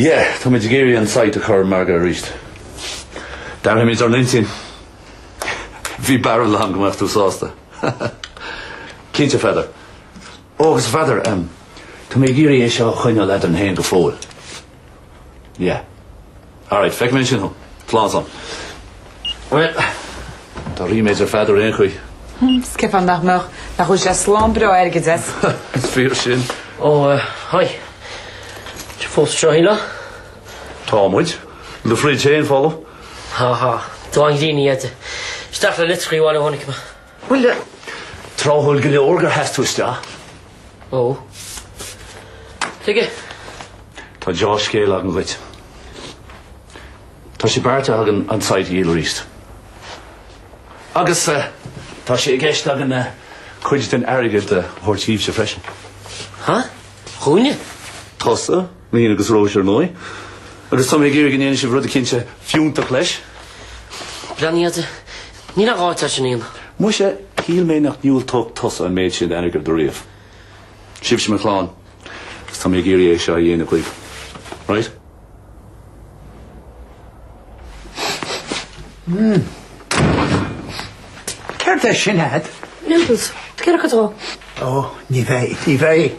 Yeah, tá muid ag iarraidh an site a chur ar an margadh arís. D'athraigh muid ár n-intinn. Bhí barúil agam go mbeadh tú sásta. Cinnte, a Pheadair. Ó, agus a Pheadair, em, tá mé ag iarraidh é seo a choinneáil eadrainn féin go fóill. Yeah. Alright, feicfidh mé ansin thú. Slán san. Bhuel, tá ríméad ar Pheadar aon chaoi. Is cén fáth nach mbeadh, nach bhfaighidh sé slám breá airgid as. Is fíor sin. Ó, haigh. Tá tú fós tráth eile? Tá muid. Do fridge féin folamh. Há há. Dá nglíní fhaide. Isteach le litreacha amháin a tháinig mé. Bhuel, tráthúil go leor gur sheas tú isteach. Ó. Tuige? Tá deá-scéal agam dhuit. Tá sé beartaithe againn an site a dhíol arís. Agus tá sé i gceist againn cuid den airgead a thabhairt dhíbhse freisin. Ha? Dhúinne? Tusa? Níl agus Róise ar ndóigh. Agus tá mé ag iarraidh go ndéanfaidh sibh rud eicínt fiúntach leis. Breathnaigh, a Dhaid. Níl aon ghá leis sin. Muise, shíl mé nach ndiúltódh tusa an méid sin d'airgead ariamh. Sibhse mo chlann, agus tá mé ag iarraidh é seo a dhéanamh daoibh. Right? Mm. Céard é sin agat? Noodles. Ag iarraidh cuid dó? Ó, ní bheidh, ní bheidh.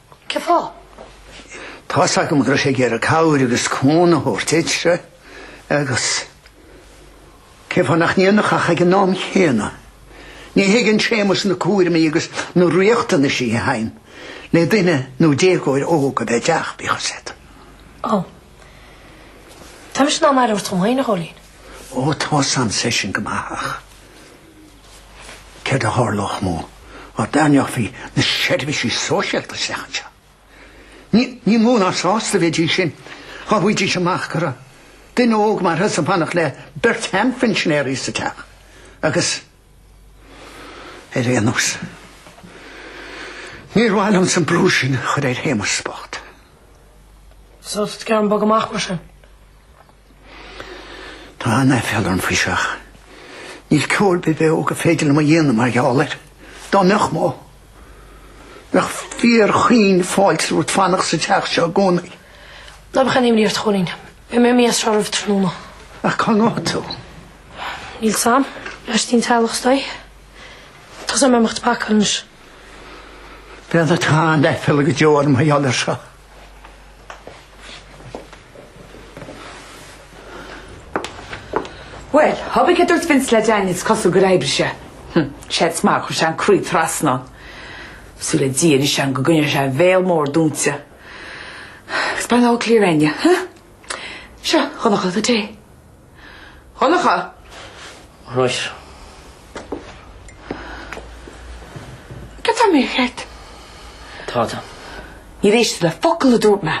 Cén fáth? Tá fhios agam go raibh sé ag iarraidh cabhair agus cúnamh a thabhairt duitse agus cén fáth nach ndéanfadh ach ag an am chéanna? Ní thuigeann Séamus na cúraimí agus na riachtanaisí a bhaineann le duine nó déagóir óg a bheith sa teach, bíodh a fhios agat. Ó. Tá mise in ann aire a thabhairt dom féin, a Chóilín. Ó, tá's agamsa é sin go maith, ach. céard a tharlódh dá dtarraingeofaí na seirbhísí sóisialta isteach anseo. Ní, ní mó ná sásta a bheidís sin dhá bhfaighidís amach go raibh duine óg mar thusa ag fanacht le beirt sheanphinsinéirí sa teach agus, ar aon nós, níor mhaith liomsa an brú sin a chur ar Shéamus bocht. So, is fearr dom bogadh amach mar sin. Tá an-aiféala orm faoi seo ach níl ceo ar bith beo gur féidir liom a dhéanamh mar gheall air. Dá mbeadh mó, bheadh fíor chaoin fáilte romhat fanacht sa teach seo i gcónaí. Ná bíodh aon imní ort, a Chóilín. Beidh mé imithe as seo roimh tráthnóna. Ach cá ngabhfaidh tú? Níl a fhios agam, lóistín le teaghlach is dóigh. Tá sé in am dom imeacht ag pacáil anois. Bean atá an-aiféala go deo orm mar gheall air seo. Bhuel, cibé céard a dúirt Vince le Daniel is cosúil gur oibrigh sé. Hm, séard is maith, chuir sé an croí trasna ann. Súil le Dia anois agam go gcoinneoidh sé a bhéal mór dúnta. It's by no clear end, yeah? Huh? Seo, Dhonncha, do tae. Dhonncha! Right. Cad tá mé a cheart? Tá tú. Níor éist tú le focal a dúirt mé.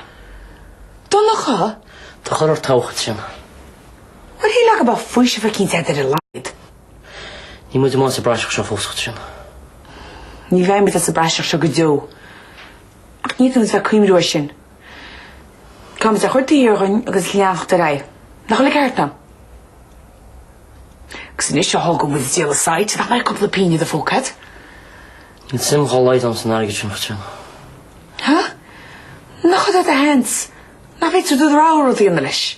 Donncha! Do chuir ort toghchán sin. What he like about faoiseamh eicínt agat ar a laghad? Níl muid amach as an bpraiseach seo fós, Chaitríona. Ní bheidh muid as an bpraiseach seo go deo. Ach níl aon chás a bheith ag cuimhniú air sin. Caithfidh muid é a chur taobh thiar dhínn agus leanacht ar aghaidh. Nach bhfuil an ceart agam? Agus anois a thógann muid ag díol an site, nach mbeidh cúpla pingin i do phóca? Níl suim dá laghad agam san airgead sin, a Chaitríona. Hah? Nach hada do sheans? Nach bhféadfá do rogha rud a dhéanamh leis?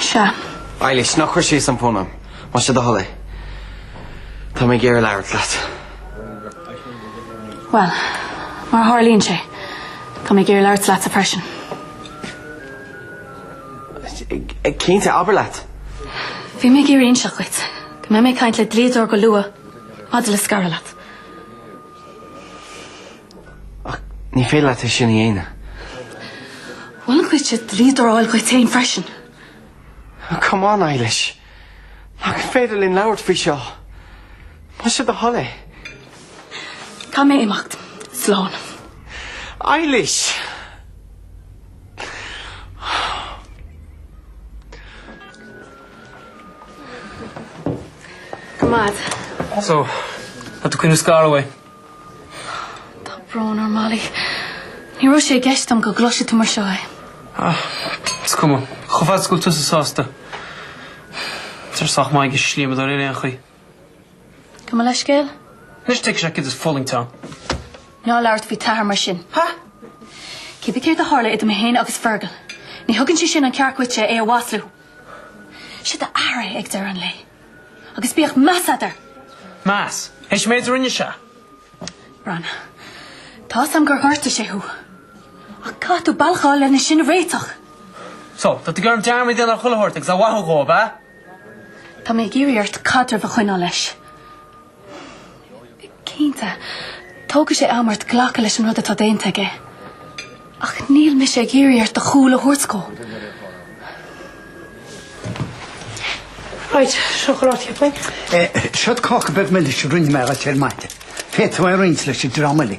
Sea. Eilish, ná cuir síos an fón orm. Más é do thoil é. Tá mé ag iarraidh labhairt leat. Bhuel, mar a tharlaíonn sé, tá mé ag iarraidh labhairt leatsa freisin. Cinnte, abair leat! Bhí mé ag iarraidh inseacht dhuit go mbeidh mé ag caint le dlíodóir go luath maidir le scaradh leat. Ach ní féidir leat é sin a dhéanamh. Mholfainn dhuitse dlíodóir a fháil dhuit féin freisin. Come on, Eilish. Nach féidir linn labhairt faoi seo. Más é do thoil é. Caithfidh mé imeacht. Slán. Eilish! Coimeád. So, tá tú ag cuimhniú scaradh uaidh? Tá brón orm, Molly. Ní raibh sé i gceist agam go gcloisfeadh tú mar seo é. Ah, is cuma. Chomh fada is go bhfuil tusa sásta. Tá sé sách maith ag an slíomadóir ar aon chaoi. Gabh mo leithscéal. Anois tuigfidh sé céard is fulaingt ann. Ná labhairt faoi t'athair mar sin. Ha! Cibé céard a tharla idir mé féin agus Fergal? Ní thugann sé sin an ceart dhuit é a mhaslú. Sé d'athair é ag deireadh an lae. Agus bíodh meas agat air! Meas? Is an méid a rinne sé orainn? Tá 'sam gur ghortaigh sé thú. Ach caithfidh tú bealach a fháil lena sin a réiteach. So, tá tú ag iarraidh dearmad a dhéanamh ar chuile shórt agus a mhaitheamh dhó, ab ea? Tá mé ag iarraidh ort caidreamh a choinneáil leis. Cinnte, tógfaidh sé am ort glacadh leis an rud atá déanta aige. Ach níl mise ag iarraidh ort do chúl a thabhairt dhó. Right, seo, ná labhair faoi. Eh, seo cáca beag milis a rinne mé dhuit ar maidin. Féadfaidh tú é a roinnt leis i dtreo m'fhilí.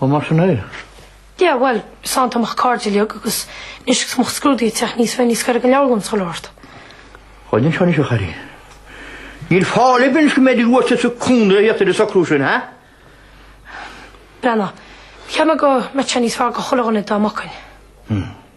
Ó, mar sin é. Yeah, bhuel, is annamh mo chairde uilig agus anois agus mo scrúdaí ag teacht níos fearr ní scarfaidh an leabhar liom sula ort. Chaill an sean is a chari. Ní maith libh anois go mbeadh sibh uaitse sa gconradh a theacht ar an socrú sin, ha? Breathnaigh, cheap mé go mbeadh sé níos fearr go chuile dhuine dá mbogfainn. Hm.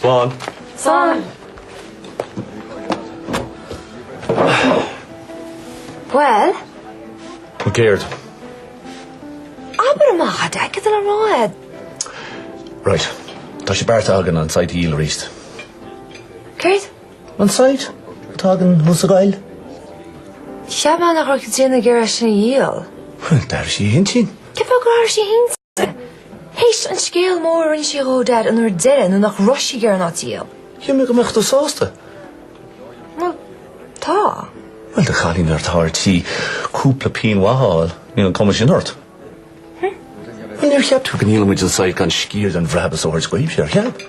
Slán. Slán. Bhuel. Ó céard? Abair amach a dtig leat a rá é. Right. Tá sé beartaithe againn an site a dhíol arís. Céard? An site atá againn thuas i nGaillimh. Cheap mé nach raibh Caitríona ag iarraidh sin a dhíol. D'athraigh sí a hintinn. Cén fáth gur athraigh sí a hintinn? Théis an scéal mór a rinne sí dhó, Dad, an uair deireadh nuair nach raibh sí ag iarraidh an áit a dhíol. Cheap mé go mbeadh tú sásta. Bhuel, tá. Bhuel, do chailín atá ar tí cúpla pingin mhaith a fháil, níl an cuma sin ort. Bhuel, níor cheap tú go ndíolfadh muid an site gan sciar den bhrabach a thabhairt dhaoibh, ar cheap?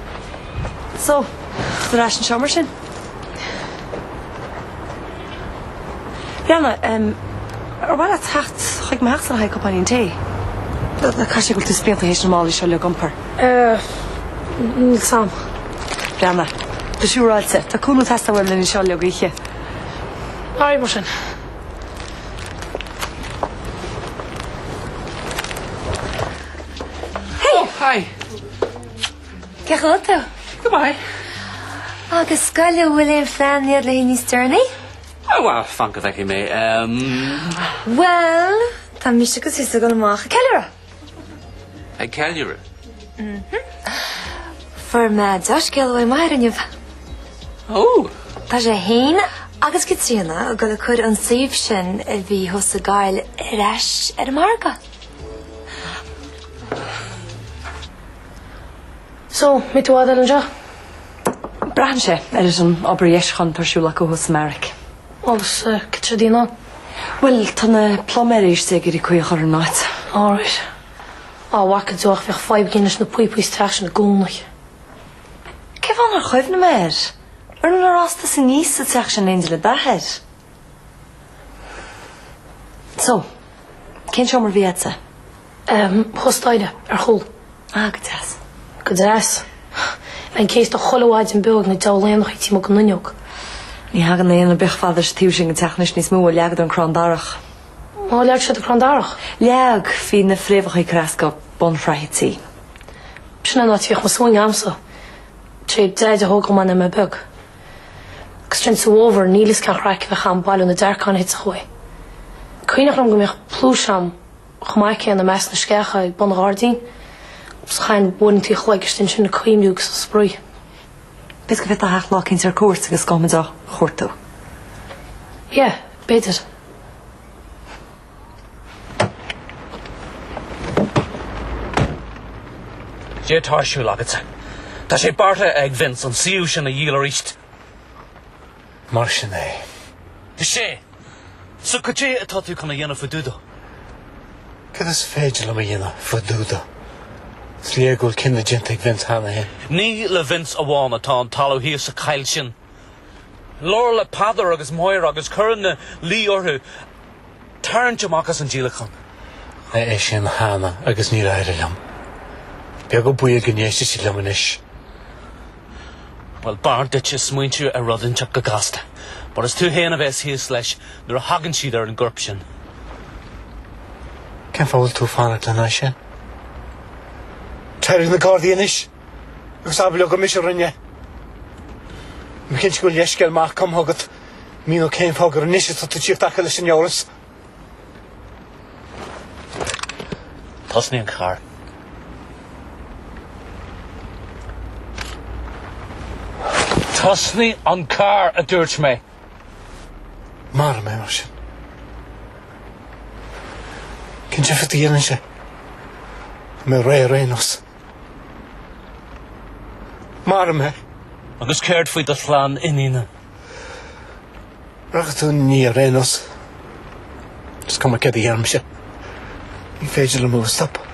So, ar ais anseo mar sin. Bríanna, em, ar mhaith leat teacht chuig mo theach san a thagadh cupáinín tae? Caithfidh sé go bhfuil tú spíonta théis na málaí seo a iompar. Eh, níl fhios agam. Bríanna, go siúráilte, tá cúnamh ag teastáil uaim linn anseo leo gaoithe. Alright mar sin. Hey! Oh, hi. Feicfidh mé thú. Goodbye. Agus cogar an bhfuil aon phlean a'd le haghaidh níos deireanaí? Oh well, fan go bhfeicfidh mé. Umm. Well, tá mise agus tusa ag dul amach ag ceiliúradh. Ag ceiliúradh? Mhm. Fuair mé dea-scéal uaidh m'athair inniu. Oh. Tá sé fhéin agus Caitríona ag dul ag cur an suíomh sin a bhí thuas i nGaillimh ar ais ar an margadh. So, mbeidh tú i bhfad anseo? Braitheann sé ar ar an obair dheisiúcháin atá ar siúl acu thuas sa mbeairic. Agus céard atá le déanamh ann? Bhuel, tá na pluiméirí istigh ag iarraidh caoi a chur ar an áit. Alright. An bhfaca tú ach bheadh fadhb againn leis na píopaí sa teach sin i gcónaí. Cé fáth nár chuimhnigh mé air? Bhíodh muide ag rástáil suas anuas sa teach sin in éindí le d'athair. So, cén seomra a bhí agatsa? Ehm, thuas staighre, ar chúl. Ah, go deas. Go deas. Bhínn céasta chuile mhaidin beo ag na diabhail éanacha taobh amuigh den fhuinneog. Ní thagann aon éan beag fad leis an taobh sin den teach anois, níos mó ó leagadar an crann darach. Ar leag siad an crann darach? Leag, bhí na fréamhacha ag creascadh bunsraith an tí. Sin an áit a mbíodh mo swing agamsa, sé Deaide a thóg dhom is mé beag. Agus sin sa bhfómhar níl fhios cén chraic a bhíodh againn ag bailiú na dearcáin a thitfeadh uaidh. Cuimhneach liom go mbíodh pluais agam chomh maith céanna i measc na sceacha i mbun an ghairdín agus chaithinn uaireanta an chloig istigh ansin ag cuimhniú agus ag spraoi. B'fhéidir go bhféadfá theacht lá eicínt ar cuairt agus gabhfaidh muid á chuartú. Yeah, b'fhéidir. Cad é atá ar siúl agatsa. Tá sé beartaithe ag Vince an suíomh sin a dhíol aríst. Mar sin é. Is ea. So cad é atá tú chun a dhéanamh fá dtaobh de? Cad is féidir liom a dhéanamh faoi dtaobh de? Is léir go bhfuil cinneadh déanta ag Vince cheana féin. Ní le Vince amháin atá an talamh thíos sa choill sin. Labhair le Peadar agus Máire agus cuir ina luí orthu. tarraingt amach as an díolachán. Rinne mé sin cheana agus níor éirigh liom. Beag an baol go n-éistfidh siad liom anois. Bhuel, b'fhearr duitse smaointiú ar rud inteacht go gasta, mar is tú fhéin a bheas thíos leis nuair a thagann siad ar an gcorp sin. Cén fáth a bhfuil tú ag fanacht lena aghaidh sin? Téirigh ag na gardaí anois! Agus abair leo gur mise a rinne. Bí cinnte go bhfuil leithscéal maith cumtha agat, a mhíneoidh cén fáth gur anois atá tú ag tíocht acu leis an eolas? Tosnaigh an carr. Tosnaigh an carr, a dúirt mé. Maraigh mé mar sin. Cén difear a dhéanann sé, tá mé réidh ar aon nós? Maraigh mé. Agus céard faoi do chlann iníne? Rachaidh tú ina ndiaidh ar aon nós, is cuma céard a dhéanaimse, ní féidir liom thú a stopadh.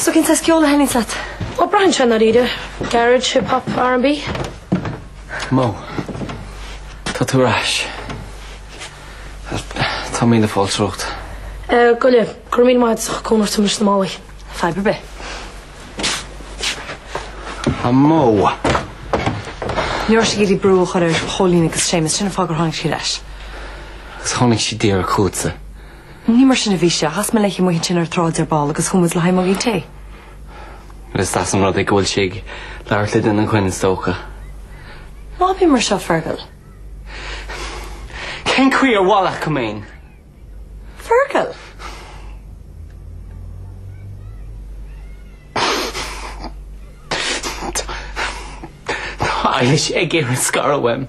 So cén saghas ceoil a thaitníonns leat? Ó braitheann sé i ndáiríre, garage, hip hop, R&B. Mo. Tá tú ar ais. Tá míle fáilte romhat. Eh, gabh i leith. Go raibh míle maith agat as ucht cúnamh a thabhairt dom leis na málaí. Fadhb ar bith. A Mo. Ní raibh sí ag iarraidh brú a chur ar Chóilín agus Séamus, sin an fáth gur tháinig sí ar ais. Agus tháinig sí díreach chugatsa. Ní mar sin a bhí sé. Chas mé léi amuigh ansin ar an tsráid ar ball agus chuaigh muid le haghaidh muigín tae. Is deas an rud é go bhfuil sí ag labhairt le duine againn is dócha. Ná bí mar seo, Fergal. Cén chaoi ar mhaith leat go mbeinn? Fergal! Tá Eilís ag iarraidh scaradh uaim.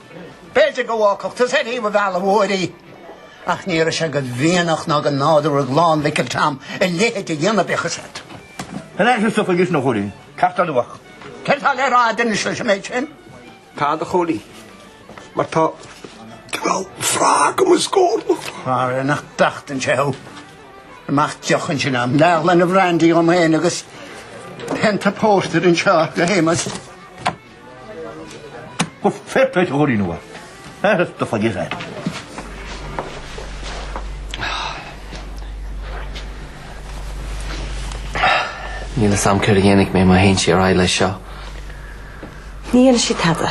B'fhéidir go bhfágfadh tú sé riamh a mhealladh uair í, ach ní raibh sé de mhianach ná de nádúr ag clann Mhicil Tom a leithéid a dhéanamh de chosaint. An ea seo socair is nó chóir é? Ceart a luadh. Céard atá le rá d'inis leis an méid sin? Tá, do chónaí, mar tá cineál sraith agam i scór nó. Mairg nach dtachtann sé thú. Mack, deoch ansin 'om. Leathghloine brandaí dhom féin agus pionta pórtair anseo do Shéamus. Go fair play to Ruairí Nua. That is the figure there. Níl fhios a'm céard a dhéanfaidh mé má théann sí ar aghaidh leis seo. Ní dhéanfaidh sí tada.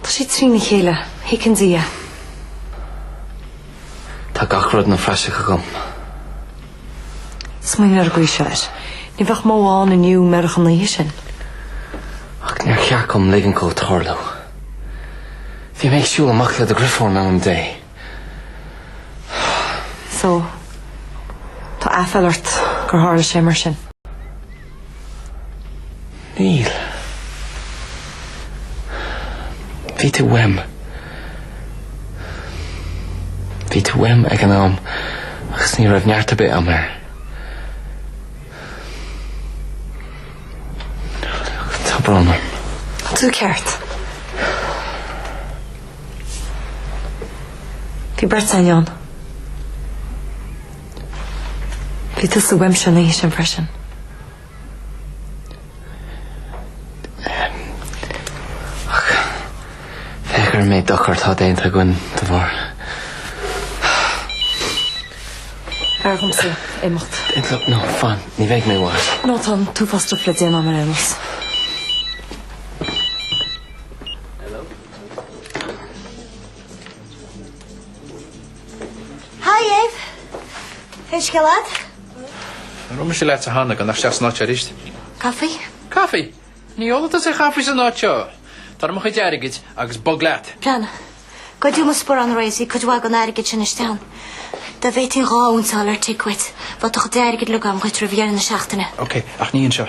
Tá sí trína chéile. Feiceann Dia. Tá gach rud ina phraiseach agam. Smaoinigh ar an gcaoi seo air. Ní bheadh mó ann inniu murach an oíche sin. Ach níor cheart dom ligint dó tarlú. Bhí mé ag siúl amach le do dheirfiúr in ainm Dé. So, tá aiféal ort gur tharla sé mar sin? Níl. Bhí tú uaim. Bhí tú uaim ag an am agus ní raibh neart ar bith a'm air. Tá brón orm. Tá tú ceart. Bhí beirt eile ann. Bhí tusa uaimse an oíche sin freisin. Ach féach ar an méid dochar atá déanta againn dá bharr. B'fhearr dhomsa imeacht. Look, no, fan, ní bheidh mé i bhfad. No, tá an t-uafás stuif le déanamh a'm ar aon nós. Hi Dave! Cén scéal leat? Nár dhúirt mise leat cheana gan theacht isteach san áit seo arís? Caifé? Caifé? Ní ólfaidh tusa aon chaifé san áit seo. Tabhair 'om mo chuid airgid agus bog leat. Brenna, goideadh mo sparán aréir agus cuid mhaith den airgead sin istigh ann. Dá bhféadfainn dhá unsa a fháil ar tic uait, bheadh do chuid airgid uilig a'm dhuit roimh dheireadh na seachtaine. Ok, ach ní anseo.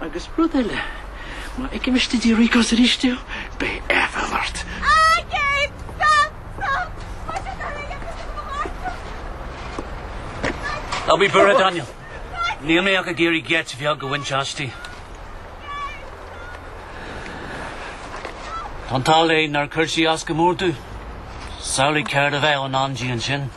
Agus rud eile, má fheicim istigh tigh Rico's arís thú, beidh aiféal ort. Airgead! Stop! Stop! Mar sin ná lig aiféal do mo mháistreacht! Airgead! Ná bí buartha, Daniel. Níl mé ach ag iarraidh geit bheag a bhaint aisti. Tá an t-ádh léi nár chuir sí as go mór dom. Samhlaigh céard a bheadh i ndán di ansin.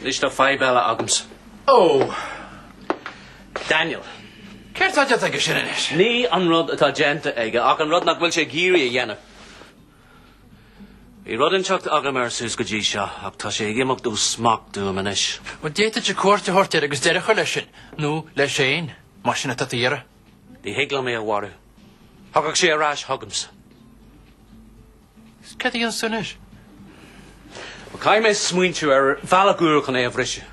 Anois tá fadhb eile agamsa. Oh! Daniel. Céard atá déanta aige sin anois? Ní an rud atá déanta aige, ach an rud nach bhfuil sé ag iarraidh a dhéanamh. Bhí rud inteacht agam air suas go dtí seo, ach tá sé ag imeacht ó smacht uaim anois. Bhuel, d'fhéadfadh sé cuairt a thabhairt air agus deireadh a chur leis sin, nó leis féin, más é sin atá tú ag iarraidh. Ní thig liom é a mharú. Thiocfadh sé ar ais chugamsa. Is cad é an suim air? Ó, caithfidh mé smaointiú ar bhealach úr chun é a bhriseadh.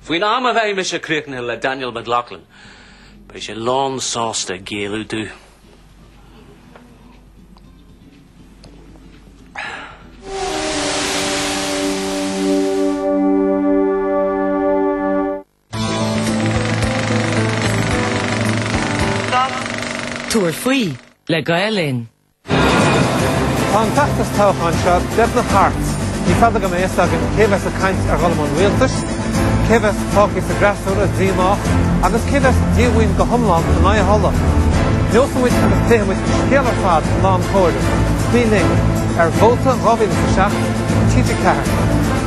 Faoin am a bheidh mise críochnaithe le Daniel McLaughlin, beidh sé lán sásta géilleadh dom. Tabhair faoi le Gael Linn. Tá an feachtas toghcháin seo beagnach thart. Ní fada go mbeidh a fhios againn cé bheas ag caint ar dhul i mbun rialtais, cé bheas fágtha sa bhfreasúra díomách agus cé bheas díomhaoin go hiomlán in aghaidh a thola. Neosfaidh muid agus pléifidh muid an scéal ar fad lá an chomhairimh. Bí linn ar Vóta 2007 ar TG4.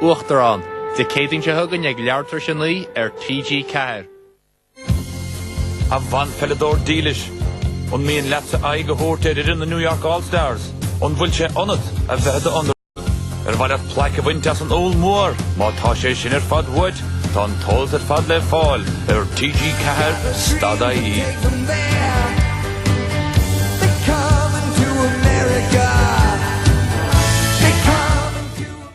Uachtarán, Dé Céadaoin seo chugainn ag leathuair tar éis a naoi ar TG4. A bhanpheileadóir dílis, an mian leatsa aghaidh a thabhairt ar fhoireann na New York All Stars? An bhfuil sé ionat a bheith i d'Underdog? Ar mhaith leat plaic a bhaint as an Úll Mór? Má tá sé sin ar fad uait, tá an t-eolas ar fad le fáil ar TG4.ie.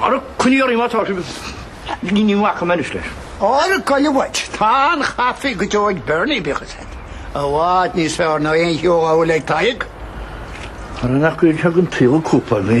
Ar a coinníollaí má tá sibh, ní bhacfaidh mé anois leis. Ar a coinne uait, tá an caife go deo ag Berni, bíodh is ait, i bhfad níos fearr ná aon cheo amhail ag Tadhg. Ar an acaill thug an tsaol cúpla mí.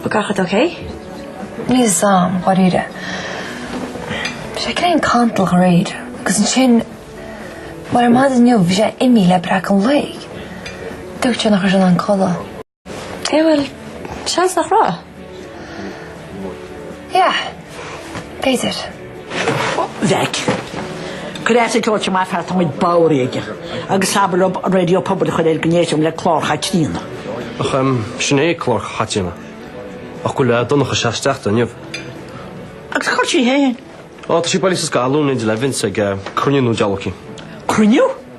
Bhfuil gach rud ok? Níl a fhios agam, dháiríre. Bhí sé cineál cantalach aréir agus ansin, mar ar maidin inniu, bhí sé imithe le breacadh an lae. Dúirt sé nach raibh sé in ann codladh. Eh bhuel, seans nach raibh. Yeah, b'fhéidir. Bheadh. Cuir as an ceol seo maith an fear táimid bodhar aige agus is abair liom Raidió Pobail a chur air go n-éistfidh mé le Clár Chaitríona. Ach sin é Clár Chaitríona. Ach go bhfuil Ó Donncha Seacht Steachta inniu. Agus cá bhfuil sí fhéin? Ó tá sí bailithe sa scoil, Luan 11 ag cruinniú nó diabhal eicínt. Cruinniú?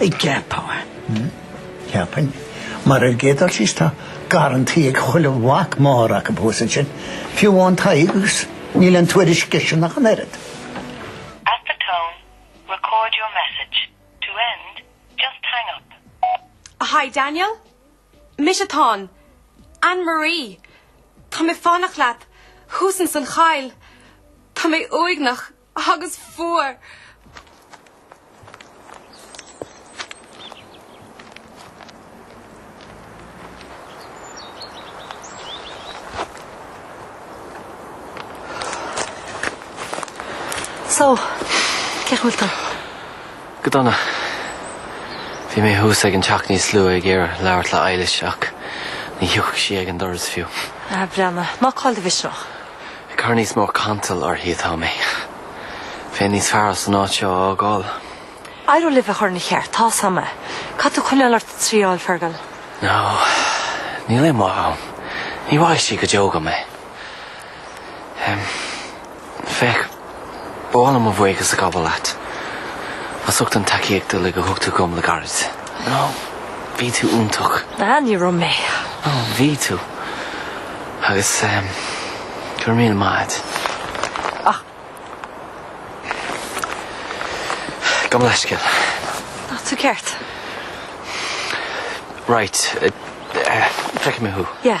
An gceapfá, cheapfainn, mar ar an gcéad dul síos tá garrantaí ag chuile mhac máthar acu thuas ansin, fiú amháin Tadhg agus níl aon tuairisc airsean ach an oiread. At the tone, record your message. To end, just hang up. Hi Daniel. Mise atá ann. Anne Marie. Tá mé ag fanacht leat. Thuas ins an choill. Tá mé uaigneach. agus fuar. So, cén chaoi a bhfuil tú? Go dona. Bhí mé thuas ag an teach níos luaithe ag iarraidh labhairt le Eilish ach ní thiocfadh sí ag an doras fiú. Ah, breathnaigh. Ná caill do mhisneach. Ag cur níos mó cantail uirthi atá mé. Bheinn níos fearr as an áit seo a fhágáil. Éireoidh libh é a chur ina cheart, tá a fhios agam é. Caithfidh tú coinneáil ort ag triail, Fergal. No, níl aon mhaith ann. Ní mhaithfidh sí go deo dhom é. Féach. Ba mhaith liom mo bhuíochas a ghabháil leat. As ucht an tacaíocht uilig a thug tú dhom le gairid. No, bhí tú iontach. Bhean, ní raibh mé. No, bhí tú. Agus ehm, go raibh míle maith a'd. Ach. Gabh mo leithscéal. No, tá tú ceart. Right, eh, eh, feicfidh mé thú. Yeah.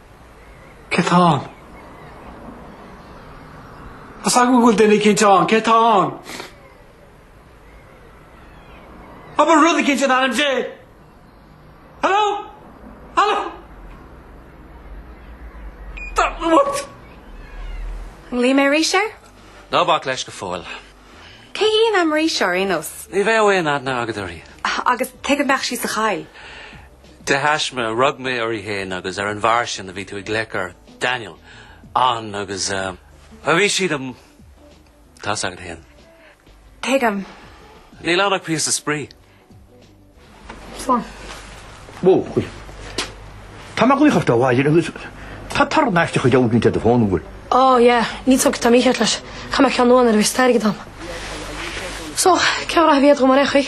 Cé tá ann? Is dóigh liom go bhfuil duine eicínt ann. Cé tá ann? Abair rud eicínt in ainm Dé? Haló? Haló? Tá, what? Glaofaidh mé ar ais air? Ná bac leis go fóill. Cé hí an Anne Marie seo ar aon nós? Ní bheadh aon aithne agat uirthi. Agus tuige a mbeadh sí sa choill. De thaisme, rug mé uirthi féin agus ar an bhfear sin a bhí tú ag glaoch air, Daniel, ann agus bhuel, bhí siad tá a fhios agat féin. Tuigim. Níl ann ach píosa spraoi. Slán. Ó, chuir. Tá mé ag glaoch ort abhaile agus tá torann aisteach deabhairt liom de do fón, an bhfuil? Ó, yeah, níl a fhios agam céard atá mícheart leis. Caithfidh mé ceann nua a fháil nuair a bheas deis agam. So, cén ghraithe a bhí agat dhíom ar aon chaoi?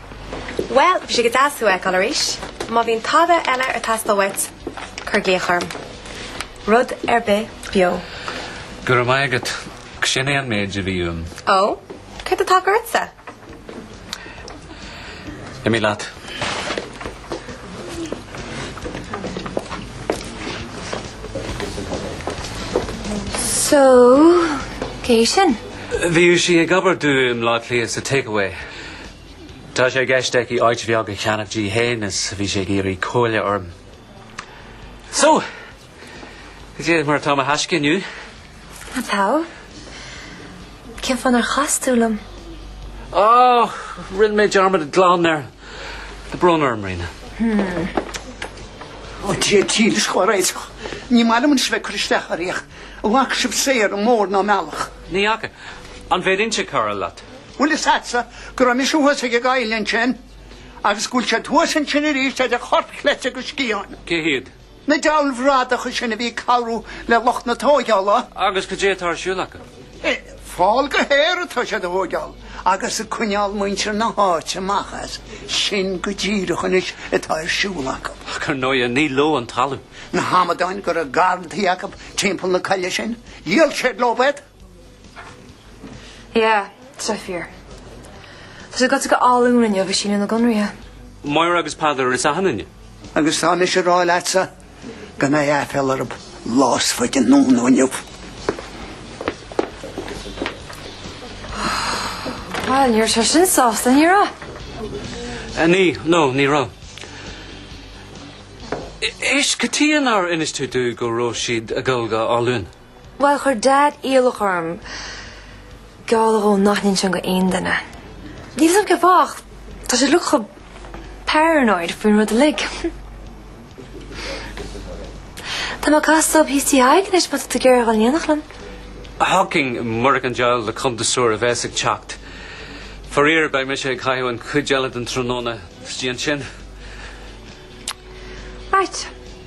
Bhuel, bhí sé go deas tú fheiceáil arís. Má bhíonn tada eile ag teastáil uait, cuir glaoch orm. Rud ar bith beo. Go raibh maith agat. Sin é an méid a bhí uaim. Ó, céard atá ortsa? Imí leat. So, cé sin? Bhí sí ag obair dom lá lí sa takeaway. Tá sé i gceist aici áit bheag a cheannach di féin is bhí sí ag iarraidh comhairle orm. So! Cad é mar atá mo thaisce inniu. An tsamhail? Cén fáth nár chas tú liom? Á! Rinne mé dearmad glan air. Tá brón orm, Ríona. Hmmm. Ó Dia dílis dár réiteach. Ní maith liomsa a bheith ag cur isteach oraibh ach an bhfaca sibh saor mór in aon bhealach. Ní fhaca. An bhféadfainnse cabhrú leat? Bhfuil a fhios agatsa go raibh mise thuas ag an gcoill ansin agus go bhfuil siad thuas ansin arís idir chorp chleite agus sciathán. Cé hiad? Na deabhail bhradacha sin a bhí ag cabhrú le lucht na tógála. Agus cad é atá ar siúl acu? Fál go haer atá siad a thógáil agus ag coinneáil muintir na háite amach as. Sin go díreach anois atá ar siúl acu. Ach ar ndóigh ní leo an talamh. Na hamadáin go raibh garrantaí acu timpeall na coille sin, dhíol siad leo iad. Yeah, so far. Tá sé goite go hÁth Luain inniu ag síniú na gconraithe. Máire agus Peadar ar an Satharn inniu. Agus tá mise a rá leatsa go mbeidh aiféala orthu lá is faide anonn ná inniu. Bhuel, ní raibh sé sin sásta, ní raibh? Eh, ní, no, ní raibh. Éist, cad chuige nár inis tú domh go raibh siad ag goil go hÁth Luain? Bhuel, chuir Dad iallach orm gealladh dhó nach n-inseoinn do aon duine. Níl a fhios agam cén fáth ach tá sé like chomh paranoid faoin rud uilig. Tá mé ag castáil leob thíos tigh Thaidhg anois má tá tú ag iarraidh a dhul in éineacht liom. Thiocfainn murach an diabhal de chuntasóir a bheas ag teacht. Faraor, beidh mise ag caitheamh an chuid eile den tráthnóna, istigh ansin. Right.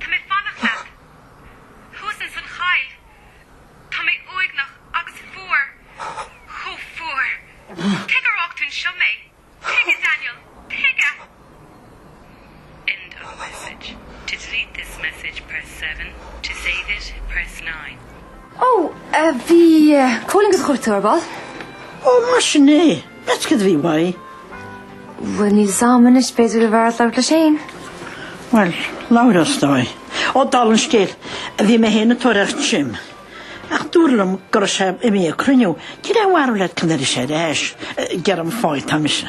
Tá mé ag fanacht leat. Thuas ins an choill. Tá mé uaigneach agus fuar. Chomh fuar! Tuige ar fhág tú anseo mé. Tuige, Daniel, tuige. End of message. To delete this message, press seven, to save it, press nine. Ó, bhí Cóilín ag do chuartú ar ball. Ó, mar sin é. Meas tú cad é a bhí uaidh. Bhuel, níl fhios a'm anois, b'fhearr dhuit labhairt leis fhéin. Bhuel, labharfad is dóigh. Ó, dála an scéil, bhí mé fhéin ar thóir Tim, ach dúradh liom go raibh sé imithe ag cruinniú. An ndúradh leat cén uair a bheas sé ar ais? Gearr an fáidh, tá mise.